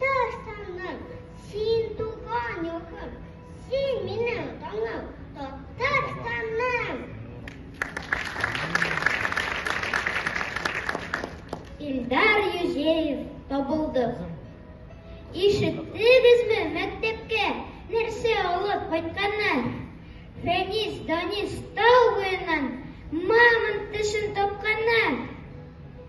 Татарстаннан син туган якым, син минем таңым, Татарстаным. Илдар Юзеев табылды. Ишеттегезме мәктәпкә нәрсә алып кайтканнар? Фәнис Данис тау буеннан мамонт тешен тапканнар.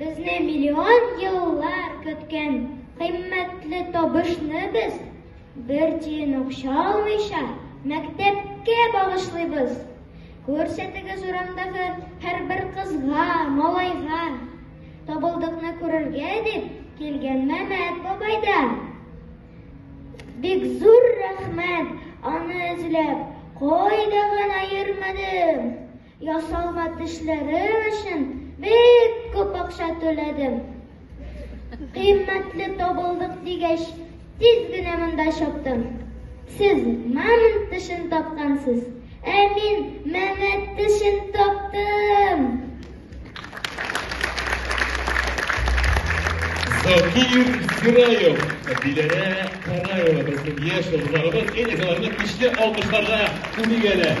Безне миллион еллар көткән кыйммәтле табышны без бер тиен акча алмыйча мәктәпкә багышлыйбыз. Күрсәтегез урамдагы һәрбер кызга, малайга. Табылдыкны күрергә дип килгән Мәмәт бабай да. Бик зур рәхмәт, аны эзләп кайда гына йөрмәдем. Ясалма тешләрем өчен бик күп акча түләдем. Кыйммәтле табылдык дигәч, тиз генә монда чаптым. Сез мамонт тешен тапкансыз, ә мин мәмәт тешен таптым. Закир Сираев, Диләрә Караева, безнең яшь узганыбыз, әле аларны көчле алкышларга күнегәләр.